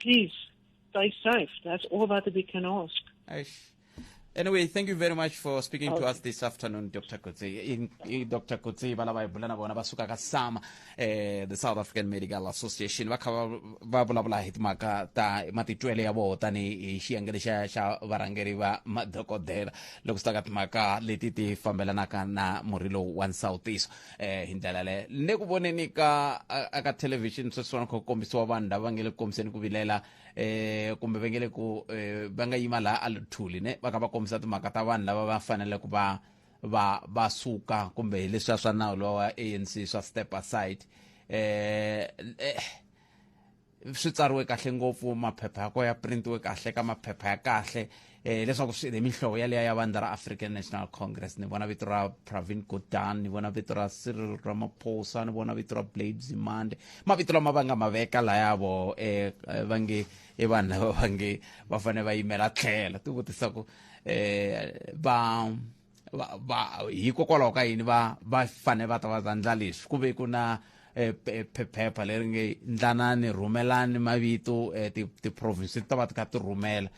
Please, stay safe. That's all that we can ask. Eish. Anyway, thank you very much for speaking to us this afternoon, Dr. Kutsi. In, in Dr. Kutsi, bana ba bulana bona ba suka ka SAMA, eh, the South African Medical Association, va kha va- va vulavula hi timhaka ta matitwele ya vona tanihi xiyengele xa xa varhangeri va madokodela loko swi ta ka timhaka leti ti fambelanaka na murhi lowu wa nsawutiso. eh hi ndlela leyo ni ku voneni ka aka television sweswiwani kha ku kombisiwa vanhu lava nge le ku kombiseni ku vilela eh kumbe va nge le ku eh, va nga yima laha a luthuli ne va kha va kombisa timhaka ta vanhu lava va fanele ku va va va suka kumbe hi leswiya swa nawu lowa anc swa step aside eh, eh swi tsariwe kahle ngopfu maphepha ya kona ya printiwe kahle ka maphepha ya kahle eh leswaku swi mihlovo yaleya ya vandla ra african national congress ni vona vito ra pravin godan ni vona vito ra cyril ramaphosa ni vona vito ra blade zimande mavito lama va nga ma veka layavo eh, eh va nge i vanhu lava va nge va fanele va yimela tlhelo ti vutisa ku eh va va, va hikokwalaho ka yini va va fane va ta va ta ndla leswi ku ve ku na eh, pe- pe- phepha leri nge ndlanani rhumelani mavito eh, ti- tiprovince ti ta va ti kha ti rhumela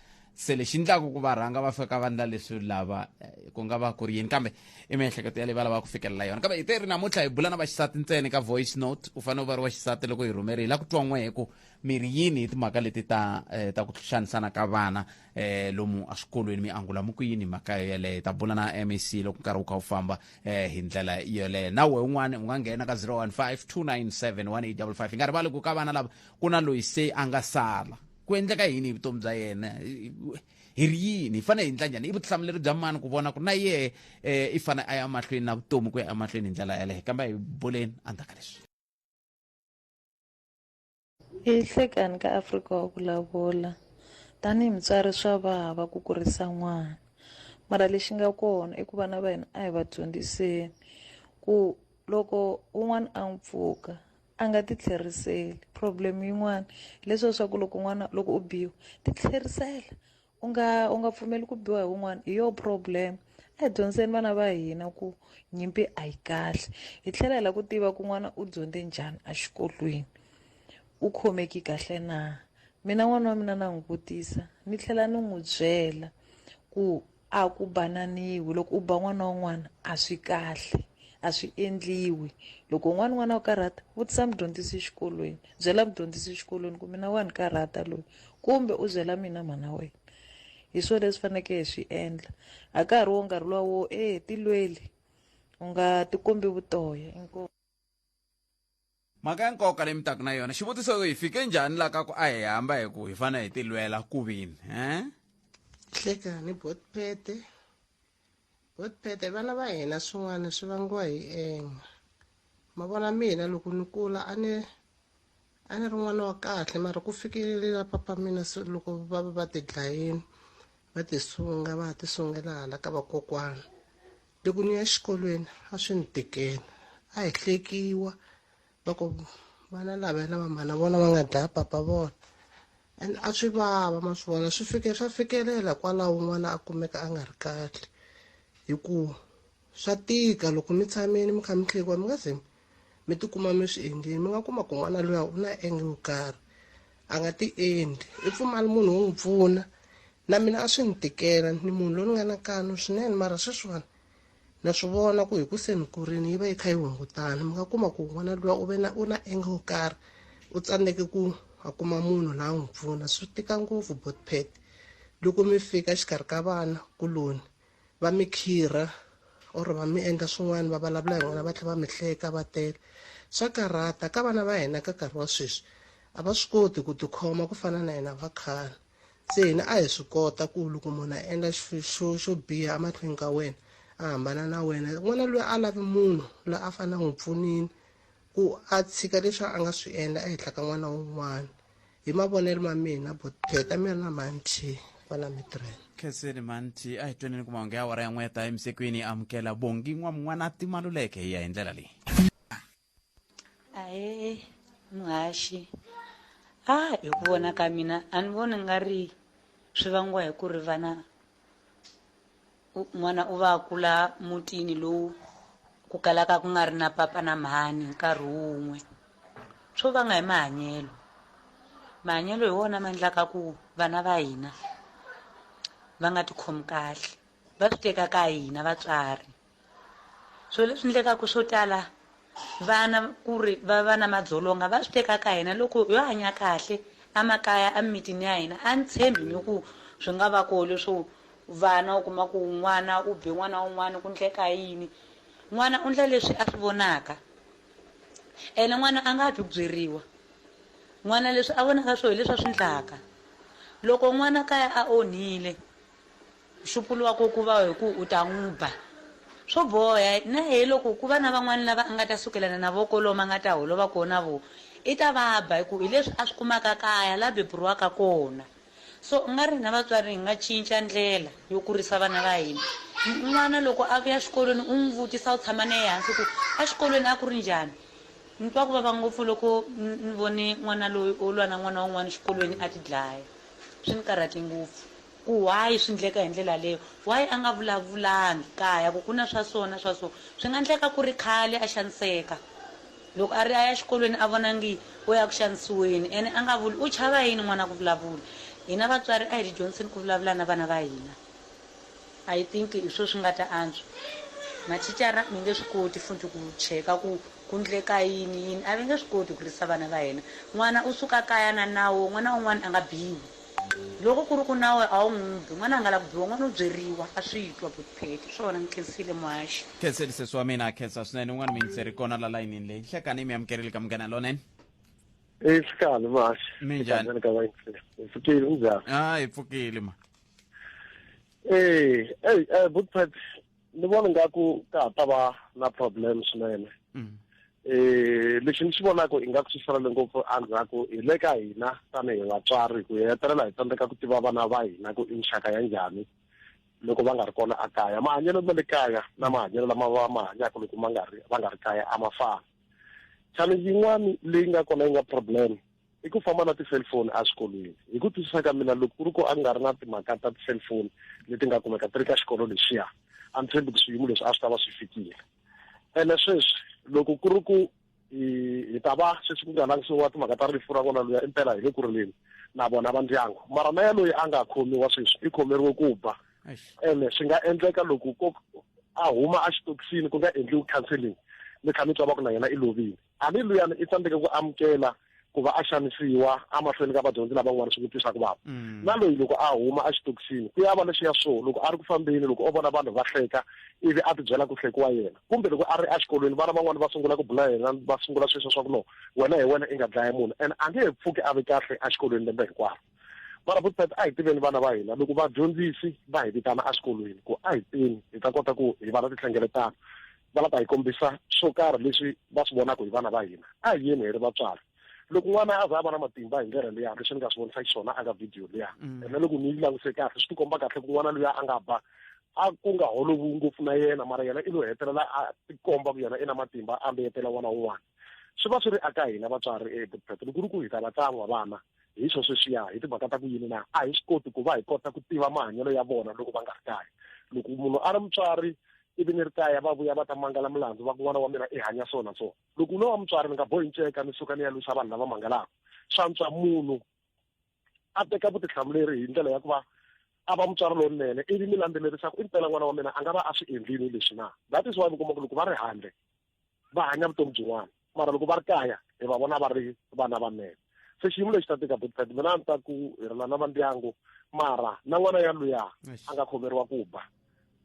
se lexi ndlaku ku va rhanga va fika va ndla leswi lava eh, ku nga va ku ri yini kambe i miehleketo ya leyi va lavaka ku fikelela yona kambe hi te ri namuntlha hi bula na vaxisati ntsena ka voice note u fanele u va ri waxisati loko hi rhumeri hi la ku twa n'we hi ku mi ri yini hi timhaka leti ta eh, ta ku xanisana ka vana eh, lomu eswikolweni mi angula mu ku yini mhaka yo yeleyo hi ta bula na mac loko nkarhi wu kha wu famba eh, hi ndlela yoleyo nawe un'wana u nga nghena ka 0152971855 hi nga rivali ku ka vana lava ku na loyi se a nga sala ku endleka yini hi vutomi bya yena hi ri yini hi fanele hi ndla njhani i vutihlamuleri bya mani ku vona ku na yehe eh, i fanele a ya mahlweni na vutomi ku ya emahlweni hi ndlela yeleyo kambe hi buleni endzhaku ka leswi Hi hlekani ka Afrika wa ku lavula tanihi mutswari swa vava ku kurisa n'wana mara lexi nga kona i ku vana va hina a hi va dyondziseni ku loko un'wana a n'wi pfuka a nga ti tlheriseli problem yin'wana hileswiya swa ku loko n'wana loko u biwa ti tlherisela. u nga u nga pfumeli ku biwa hi wun'wana hi yo problem a hi dyondzeni vana va hina ku nyimpi a yi kahle hi tlhela hi lava ku tiva ku n'wana u dyondze njhani exikolweni u khomeki kahle na mina n'wana wa mina na n'wi vutisa ni tlhela ni n'wi byela ku a ku bananiwi loko u ba n'wana wun'wana a swi kahle a swi endliwi loko un'wana n'wana u karhata vutisa mudyondzisi exikolweni byela mudyondzisi xikolweni ku mina wa ni karhata loyi kumbe u byela mina mhana wena hi swona leswi fanekele hi swi endla a ka ha ri wo nkarhi luwa wo e tilweli u nga tikombi vutoya inkomu mhaka ya nkoka leyi mi taka na yona xivutiso hi fike njhani la ka ku a hi hamba hi ku hi fanele hi tilwela ku vini um hlekani botpete Botpete vana va hina swin'wana swi vangiwa hi enga ma vona mina loko ni kula a ni a ni ri n'wana wa kahle mara ku fikelele la papa mina se loko va va va ti dlayini va ti sunga va ha ti sungela hala ka vakokwana loko ni ya xikolweni a swi ni tikela a hi hlekiwa va ku vana lava na vamhana vona va nga dlaya papa vona and a swi vava ma swi vona swi fike swa fikelela kwalaho un'wana a kumeka a nga ri kahle hi ku swa tika loko mi tshamile mi kha mi tlhekiwa mi nga ze mi tikuma mi swi endleni mi nga kuma ku n'wana luya u na enge yo karhi a nga ti endli i pfumali munhu wo n'wi pfuna na mina a swi ni tikela ni munhu loyi ni nga na kanu swinene mara sweswiwani na swi vona ku hi ku se ni kurini yi va yi kha yi hungutana mi nga kuma ku n'wana luwa u ve na u na enge wo karhi u tsandzeke ku a kuma munhu la n'wi pfuna swi tika ngopfu botpet loko mi fika xikarhi ka vana kuloni va mi khirha or va mi endla swin'wana va vulavula hi n'wina va tlhe va mi hleka va tele swa karhata ka vana va hina ka nkarhi wa sweswi a va swi koti ku tikhoma ku fana na hina va khale se hina a hi swi kota ku loko munhu a endla xo xo biha emahlweni ka wena a hambana na wena n'wana loyi a lavi munhu loyi a fanele a n'wi pfunini ku a tshika leswi a nga swi endla ehenhla ka n'wana wun'wana hi mavonelo ma mina botheta mi ri na manthi kwala mitirhelo khenseni manthi a hi tweneni ku mahungu ya wara ya n'weta emisekweni amukela bongi n'wa mun'wana a timaluleke hi ya hi ndlela leyi ae muhaxi a ah, hi ku vona ka mina a ni voni nga ri swi vangiwa hi ku ri vana n'wana u va kula mutini lowu ku kalaka ku nga ri na papa na mhani nkarhi wun'we swo vanga hi mahanyelo mahanyelo hi wona ma endlaka ku vana va hina va nga tikhomi kahle va swi teka ka hina vatswari swo leswi ndlekaku swo tala vana ku ri va va na madzolonga va swi teka ka hina loko yo hanya kahle emakaya emimitini ya hina a ni tshembi ni ku swi nga va koho leswo vana u kuma ku n'wana u be n'wana wun'wana ku ndleka yini n'wana u ndla leswi a swi vonaka ene n'wana a nga twi ku byeriwa n'wana leswi a vonaka swo hi leswi a swi ndlaka loko n'wana kaya a onhile Nxupulo wa koho ku va hi ku u ta n'wi ba. Swo boha na yehe loko ku va na van'wana lava a nga ta sukelana na vona kolomu a nga ta holova kona na vona, i ta va ba hi ku hi leswi a swi kumaka kaya laha beburiwaka kona. So u nga ri hina vatswari hi nga cinca ndlela yo kurisa vana va hina. N'wana loko a vuya xikolweni u n'wi vutisa u tshama na yehe hansi ku, Exikolweni a ku ri njhani? Ni twa ku vava ngopfu loko ni vone n'wana loyi o lwa na n'wana wun'wana xikolweni a tidlaya. Swi ni karhate ngopfu. Ku why swi ndleka hi ndlela leyo? Why a nga vulavulangi kaya ku ku na swa so na swa so? Swi nga ndleka ku ri khale a xaniseka. Loko a ri a ya xikolweni a vona ngi u ya ku xanisiweni ene a nga vuli. U chava yini n'wana ku vulavula? Hina vatswari a hi tidyondziseni ku vulavula na vana va hina. I think hi swo swi nga ta antswa. Mathicara mi nge swi koti futhi ku cheka ku ku ndleka yini yini. A va nge swi koti ku risa vana va hina. N'wana u suka kaya na nawu, n'wana un'wana a nga biwi. Loko ku ri ku nawe a wu n'wi bi, n'wana a nga lavi ku biwa, n'wana u byeriwa, a swi twa buti Phetty. Swona ni khensile muhaxi. Khenseni sesi wa mina, ha khensa swinene. Un'wana muyingiseri kona la layinini leyi. Nhlekani mi amukerile ka Munghana Lonene. Hi fikani muhaxi. Mi njhani? Hi ka vayingiseri. Hi fikile, mi njhani? Ah, hi pfukile ma. Eh, hey, eh, buti Phetty, ni vona nga ku ka ha ta va na problem swinene mm. eh lexi ni xi vonaka i nga ku swi fanele ngopfu endzhaku hi le ka hina tanihi vatswari ku hetelela hi tsandzeka ku tiva vana va hina ku i nxaka ya njhani loko va nga ri kona a kaya mahanyelo ma le kaya na mahanyelo lama va ma hanyaka loko ma nga ri va nga ri kaya a ma fani challenge yin'wana leyi nga kona yi nga problem i ku famba na ti-cellphone exikolweni hi ku twisisa ka mina loko ku ri ku a nga ri na timhaka ta ti-cellphone leti nga kumeka ti ri ka xikolo lexiya a ni tshembi ku swiyimo leswi a swi ta va swi fikile ene sweswi loko ku ri ku hi ta va sweswi ku nga langisiwa timhaka ta rifu ra n'wana luya impela hi le ku rileni na vona va ndyangu mara na yaloyi a nga khomiwa sweswi i khomeriwe ku ba ene swi nga endleka loko ko a huma exitokisini ku nga endliwi counseling mi tlha mi twa va ku na yena i lovile Hambi luyani i tsandzeke ku amukela ku va a xanisiwa emahlweni ka vadyondzi lava n'wana swi n'wi twisaka vava mm. na loyi loko a huma exitokisini ku ya va lexi ya swo loko a ri ku fambeni loko o vona vanhu va hleka ivi a tibyela ku hlekiwa yena kumbe loko a ri exikolweni vana van'wana va sungula ku bula yena va sungula sweswo swa ku no wena hi wena i nga dlaya munhu and a nge he pfuki a ve kahle exikolweni lembe hinkwaro vana vo tata a hi tiveni vana va hina loko vadyondzisi va hi vitana eswikolweni ku a hi teni hi ta kota ku hi va na tinhlengeletano va lava hi kombisa swo karhi leswi va swi vonaka hi vana va hina a hi yeni hi ri vatswari loko n'wana a za a va na matimba hi ndlela leya leswi ni nga swi vonisa xiswona aka video leya mm. ene loko ni yi languse kahle swi tikomba kahle ku n'wana loyi a nga ba a ku nga holovi ngopfu na yena mara yena i lo hetelela a tikomba ku yena i na matimba a mbeyetela n'wana wun'wana swi va swi ri aka hina vatswari ebuprete loko ri ku hi ta va tsan'wa vana hi swo sweswiya hi timhaka ta ku yini na a hi swi koti ku va hi kota ku tiva mahanyelo ya vona loko va nga ri kaya loko munhu a ri mutswari ivi ni ri kaya va vuya va ta mangala milandzu va ku n'wana wa mina i hanya so na so loko no wa mutswari ni nga bohi nceka ni suka ni ya lwisa vanhu lava mangalaka swantswa munhu a teka vutihlamuleri hi ndlela ya ku va a va mutswari lowunene ivi mi landzelerisa ku i mpela n'wana wa mina a nga va a swi endlini leswi na that is why mi kuma ku loko va ri handle va hanya vutomi byin'wana mara loko va ri kaya hi va vona va ri vana va mena se xiyimo lexi ta tika big mina a ni ta ku hi rila na vandyangu mara na n'wana ya luya a nga khomeriwa ku ba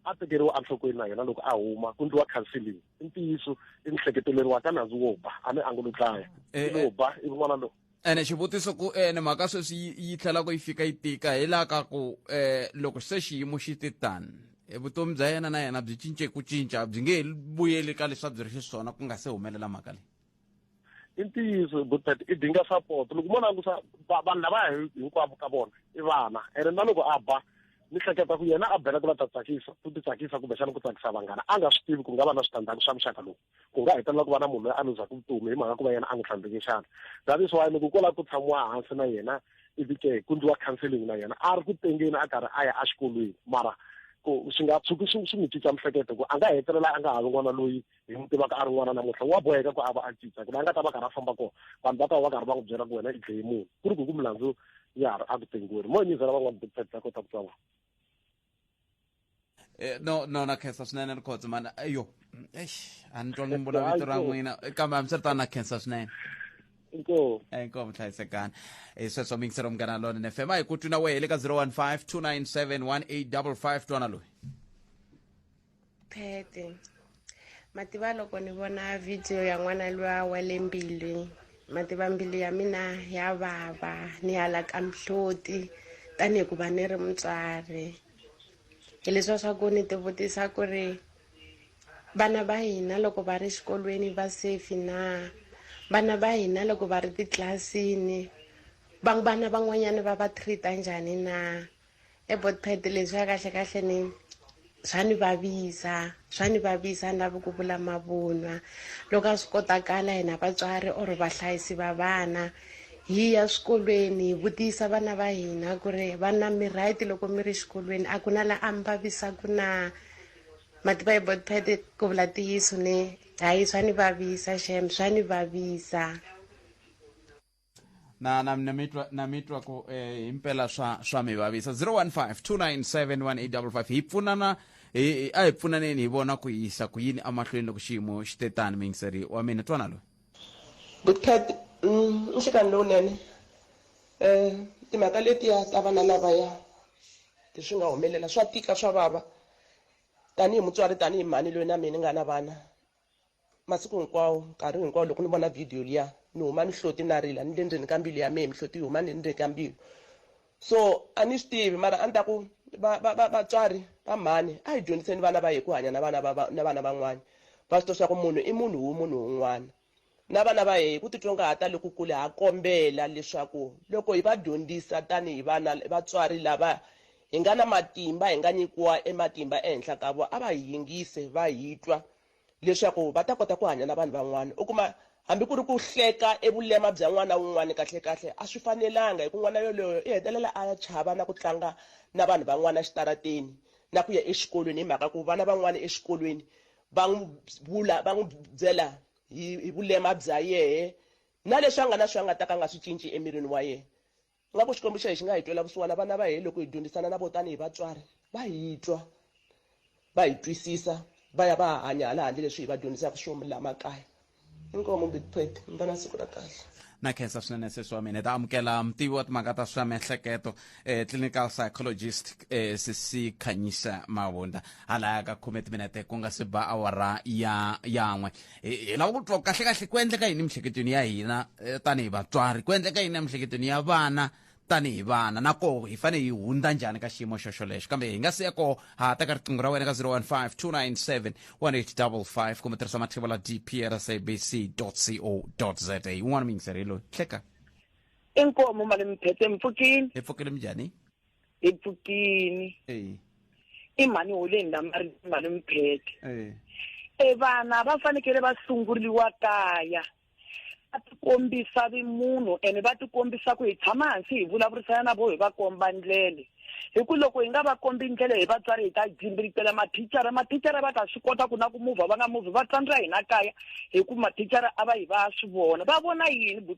a tekeriwa enhlokweni na yena loko a huma ku ndliwa counseling i ntiyiso i mihleketeleriwa ka nandzu wo ba a ni angulo dlaya eh, i lo eh. ba i n'wana lowu ene xivutiso ku ene eh, mhaka sweswi yi tlhelaka yi fika yi tika hi laha ka ku um loko se xiyimo xi ti tani eh, vutomi bya yena na yena byi cince ku cinca byi nge he vuyeli ka leswi a byi ri xiswona ku nga se humelela mhaka leyi i ntiyiso butet i dinga support loko mo langusa vanhu lava hinkwavo ka vona i vana ene na loko a ba ni hleketa ku yena a bela ku la ta tsakisa ku ti tsakisa kumbexana ku tsakisa vanghana a nga swi tivi ku nga va na switandzhaku swa muxaka lowu ku nga hetelela ku va na munhu loyi a luzaka vutomi hi mhaka ku va yena a n'wi tlhandleke xana that is why loko ku lava ku tshamiwa hansi na yena ivi ke ku ndliwa counseling na yena a ri ku tengeni a karhi a ya exikolweni mara ku swi nga tshuki swi swi n'wi cinca mihleketo ku a nga hetelela a nga ha vi n'wana loyi hi n'wi tivaka a ri n'wana namuntlha wa boheka ku a va a cinca ku la a nga ta va karhi a famba kona vanhu va ta va va karhi va n'wi byela ku wena i dleye munhu ku ri ku ku milandzu ya ha ri a ku tengiweni mo nyizela van'wana doctor ta kota ku twa vona Eh, no no na khensa swinene rikhotso mani ayo eish a ni twangi mi vula vito ra n'wina Eh, kambe hambiswiritano na khensa swinene inkomu inkomu hlayisekani Eh, sweswo mingisero munghana lona ni fm a hi ku twi na wehe le ka 015 297 1855 twana loyi phete mativa loko ni vona video ya n'wana luya wa le mbilwi mativa mbilu ya mina ya vava ni hala ka mihloti tanihi ku va ni ri mutswari hi leswiwa swa ku ni tivutisa ku ri vana va hina loko va ri xikolweni va safe na vana va hina loko va ri titlilasini vana van'wanyana va va treat-a njhani na ebodpad leswiya kahle kahle ni swa ni vavisa swa ni vavisa ni lavi ku vula mavunwa loko a swi kotakala hina vatswari or vahlayisi va vana hi ya swikolweni hi vutisa vana va hina ku ri vana mi right loko mi ri xikolweni a ku na la a mi vavisaku na mativa hi botpad ku vula tiyiso ni hayi swa ni vavisa xem swa ni vavisa na na na mitwa na mitwa ku eh, himpela swa swa mi vavisa 0152971855 hi pfunana hi hi- a hi pfunaneni hi vona ku yisa ku yini amahlweni loko xiyimo xi te tani mingiseri wa mina twana loyi good cat mm, nhlekani lowunene um timhaka letiya ta vana lavaya leswi nga humelela swa tika swa vava tanihi mutswari tanihi mhani loyi na mina ni nga na vana masiku hinkwawo nkarhi hinkwawo loko ni vona vhidiyo liya ni huma ni hloti na rila ni le ndzeni ka mbilu ya mehe mihloti yi huma ni le ndzeni ka mbilu so a ni swi tivi mara a ni ta ku vatswari va mhani a hi dyondziseni vana va hi ku hanya na vana na vana van'wana va swi tiva swa ku munhu i munhu wu munhu wun'wana na vana va hi ku titsongahata lokukulu ha kombela leswaku loko hi va dyondzisa tanihi vana vatswari lava Hi nga na matimba, hi nga nyikiwa e matimba ehenhla ka vo, a va hi yingise, va hi twa, leswaku va ta kota ku hanya na vanhu van'wana. U kuma, hambi ku ri ku hleka e vulema bya n'wana wun'wana, kahle-kahle a swi fanelanga, hi ku n'wana yoloyo i hetelela a chava na ku tlanga na vanhu van'wana exitarateni, na ku ya exikolweni, hi mhaka ku vana van'wana exikolweni va n'wi vula, va n'wi byela hi, hi vulema bya yehe, na leswi a nga na swo a nga ta ka a nga swi cinci emirini wa yehe. Ingaku Xikwembu xa hina xi nga hi twela vusiwana vana va hina loko hi dyondzisana na vona tanihi vatswari. Va hi twa, va hi twisisa, va ya va ya hanya hala handle leswi hi va dyondzisaka swona laha makaya. Inkomu Big Pet, mi va na siku ra kahle. Na khensa swinene sesi wa mina. Hi ta amukela mutivi wa timhaka ta swa miehleketo, eh, clinical psychologist, eh, sesi Khanyisa Mavundla halaya ka khume timinete ku nga si ba awara ya yan'we. hi lava ku twa kahlekahle ku endleka yini emihleketweni ya hina eh, tanihi vatswari ku endleka yini emihleketweni ya vana tanihi vana na koho hi fanele hi hundza njhani ka xiyimo xoxo lexo kambe hi nga si ya koho ha ta ka riqingho ra wena ka 015 297 1855 kumbe tirhisa matlhelo la dprsabc co za un'wana muyingiseri hi loyi hleka inkomo mali miphethe mpfukini hi pfukile minjhani epfutini i mhani holeni la mari mhani mpheke e vana va fanekele va sunguriwa kaya va tikombisa vimunhu ene va tikombisa ku hi tshama hansi hi vulavurisana na vo hi va komba ndlele hi ku loko hi nga va kombi ndlela hi vatswari hi ta jimbiritela mathicara mathicara va ta swi kota ku na ku muvha va nga muvhi va tsandzira hina kaya hi ku mathicara a va hi va swi vona va vona yini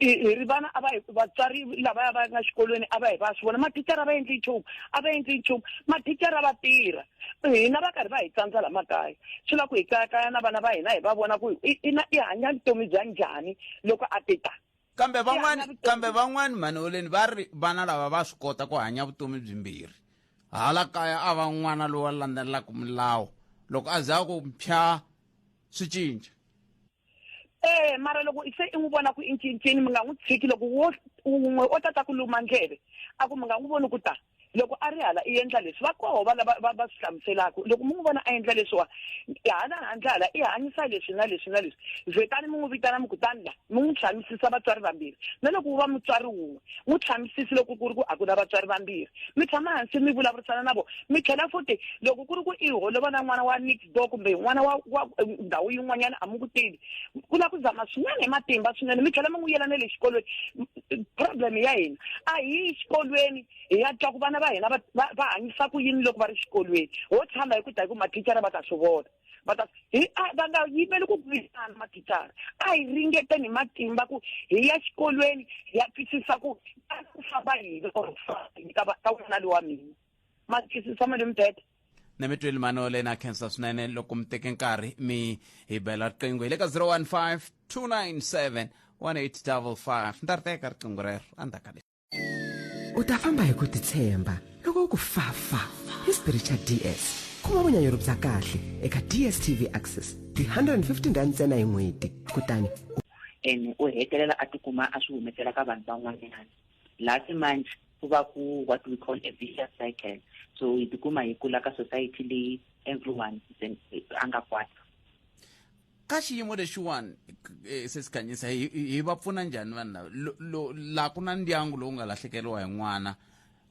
hi ri vana a va hi vatswari lavaya va nga xikolweni a va hi va swi vona mathicara va endli nchumu a va endli nchumu mathicara va tirha hina va karhi va hi tsandza la makaya swi la ku hi kayakaya na vana va hina hi va vona ku ina i hanya vutomi bya njhani loko a ti ta kambe van'wani kambe van'wani mhaneweleni va ri vana lava va swi kota ku hanya vutomi byimbirhi hala kaya a va n'wana lowa landzelelaka milawu loko a za ku mpya swi cinca eh mara loko se i n'wi vona ku i ncincini mi nga n'wi tshiki loko wo un'we o tata ku luma ndleve a ku mi nga n'wi voni ku ta loko a ri hala i endla leswi va koho vana va va swi hlamuselaka loko mi n'wi vona a endla leswiwa hala handle hala i hanyisa leswi na leswi na leswi vhetani mi n'wi vitana mi kutani la mi n'wi tshamisisa vatswari vambirhi na loko wu va mutswari wun'we n'wi tshamisisi loko ku ri ku a ku na vatswari vambirhi mi tshama hansi mi vulavurisana na vona mi tlhela futi loko ku ri ku i holova na n'wana wa bo kumbe n'wana wa wa ndhawu yin'wanyana a mi ku tivi ku na ku zama swinene hi matimba swinene mi tlhela mi n'wi yela na le xikolweni problem ya hina a hi yi xikolweni hi ya twa ku vana va hina va hanyisa ku yini loko va ri xikolweni ho tshama hi ku ta hi ku mathicara va ta swi vona va ta hi va nga yimeli ku burisana mathicara a hi ringeteni hi matimba ku hi ya xikolweni hi ya twisisa ku ku famba yini or ka ka n'wana lowa mina makisi tshama le mubede na mi tweli mano leyi na khensa swinene loko mi teke nkarhi mi hi bela riqingho hi le ka 015 297 1855 ni ta ri teka riqingho rero endzhaku ka u ta famba hi ku titshemba loko u ku fafa hi xibiri xa ds kuma vunyanyuri bya kahle eka dstv access ti 115 rand ntsena hi n'hweti kutani ene u hetelela a tikuma a swi humesela ka vanhu van'wanyana last month ku va ku what we call a vicious cycle so hi tikuma hi kula ka society leyi everyone a nga kwata ka xiyimo lexiwani eh, se sikhanyisa hi va pfuna njhani vanhu lava laha ku na ndyangu lowu nga lahlekeriwa hi n'wana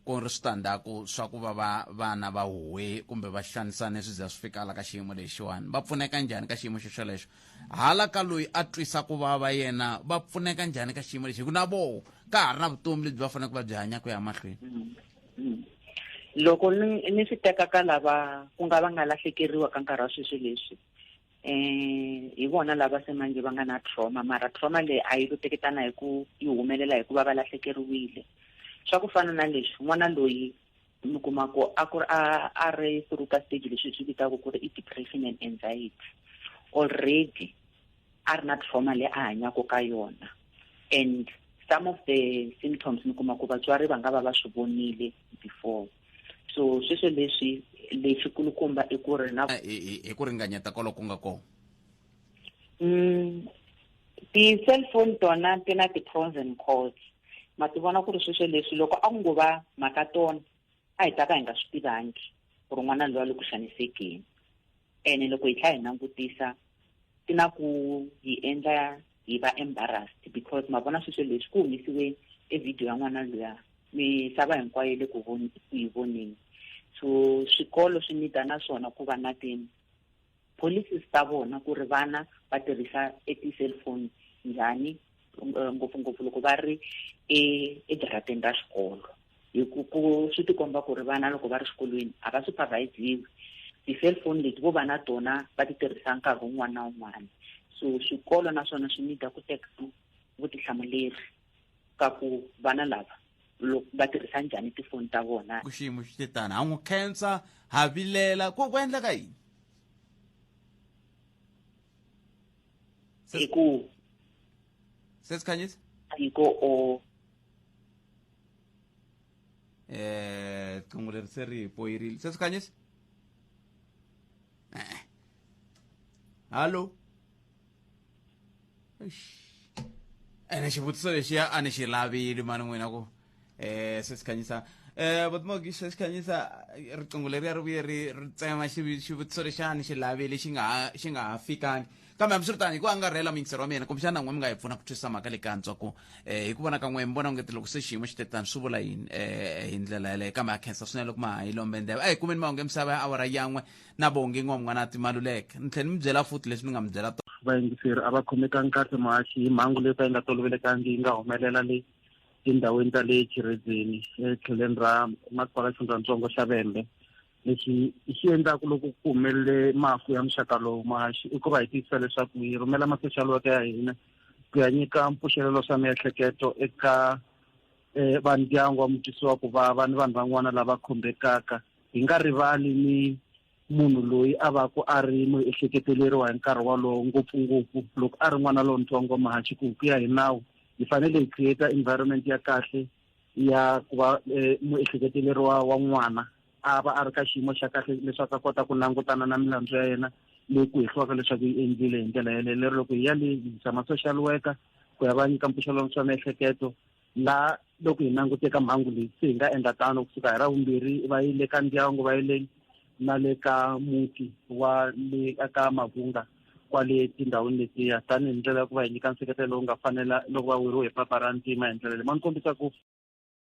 ku ri switandzhaku swa ku va va vana va huwe kumbe va xanisane swi za swi fikala ka xiyimo lexiwani va pfuneka njhani ka xiyimo xo xolexo hala ka loyi a twisa ku vava yena va pfuneka njhani ka xiyimo lexi hi ku na voho ka ha ri na vutomi lebyi va faneleke va byi hanya ku ya mahlweni mm, mm. loko ni swi teka ka lava ku nga va nga lahlekeriwa ka nkarhi wa sweswi leswi um hi vona lava se manjhe va nga na trauma mara trauma leyi a yi luteketana hi ku yi humelela hikuva va lahlekeriwile swa ku fana na leswi n'wana loyi mi kuma ku a ku ri a a ri through ka stage leswi hi swi vitaka ku ri i depression and anxiety already a ri na trauma leyi a hanyaka ka yona and some of the symptoms mi kuma ku vatswari va nga va va swi vonile before so sweswo leswi lexi kulukumba i ku ri na hi ku ringanyeta kolo ku nga kona mm, ti-cellphone tona ti na ti-pros and cons ma ti vona ku ri sweswo leswi loko a ku ngo va mhaka tona a hi ta ka hi nga swi tivangi ku ri n'wana lowa le ku xanisekeni ene loko hi tlha hi langutisa ti na ku hi endla hi va embarrassed because ma vona sweswo leswi ku humesiwe e video ya n'wana loya misava hinkwayo le ku yi voneni so swikolo swi nida na swona ku va na ti policies ta vona ku ri vana va tirhisa e ti-cellphone njhani eh, ngopfungopfu loko va ri e-, ejarateni ra xikolo hi ku ku swi tikomba ku ri vana loko va ri xikolweni a va supervisiwi ti-cellphone leti vo va na tona va ti tirhisa nkarhi wun'wana na wun'wana so swikolo naswona swi nida ku teka vutihlamuleri ka ku vana lava va tirhisa njhani tifoni ta vona ku xiyimo xi te tani ha n'wi khensa ha vilela ku ku endleka yini hi ku se sikhanyisa tiko o eh qingo leri se ri poyirile se sikhanyisa eh hallo ene xivutiso lexiya a ni xi lavili mani n'wina ku eh se sikhanyisa eh vatimogi se sikhanyisa riqingho leriya ri vuye ri ri tsema xivi- xivutiso lexiya a ni xi lavili xi nga ha xi nga ha fikangi kambe hambiswiritani hi ku angarhela muyingiseri wa mina kumbexana n'we mi nga hi pfuna ku twisisa mhaka le ka antswa ku eh hi ku vona ka n'we mi vona onge loko se xiyimo xi tetani swi vula yini eh hi ndlela yeleyo kambe ha khensa swinene loko ma ha yi lombe ndleve a hi kumeni mahungu emisava ya awara yan'we na vonge n'wamwanati maluleke ni tlhela ni mi byela futhi leswi ni nga mi byela tona vayingiseri a va khomekangi kahle muhaxi hi mhangu leyi ka yi nga tolovelekangi yi nga humelela le tindhawini ta le chiredzeni etlheleni ra masipala xifundzatsongo xa vembe lexi xi endlaka loko ku humelele mafu ya muxaka lowu muhaxi i ku va hi tiyisisa leswaku hi rhumela masexalo waka ya hina ku ya nyika mpfuxelelo swa miehleketo eka um vandyangu wa mutwisiwa ku vava ni vanhu van'wana lava khumbekaka hi nga rivali ni munhu loyi a va ku a ri muehleketeleriwa hi nkarhi walowo ngopfungopfu loko a ri n'wana lontsongo mahachi ku ku ya hi nawu hi fanele hi create environment ya kahle ya ku va eh, muehleketeleriwa wa n'wana a va a ri ka xiyimo xa kahle leswaku a kota ku langutana na milandzu ya yena leyi ku hehliwaka leswaku yi endlile hi ndlela yeleyo lero loko hi ya le hi yisa ma-social worker ku ya va nyika mpfuxelano swa miehleketo laha loko hi langute ka mhangu leyi se hi nga endla tano kusuka hi ra vumbirhi va yi le ka ndyangu va yi le na le ka muti wa le ka mavunga kwale tindhawini letiya tanihi ndlela ya ku va hi nyika nseketelo lowu nga fanela loko va weriwe hi papa ra ntima hi ndlela leyi ma ni kombisa ku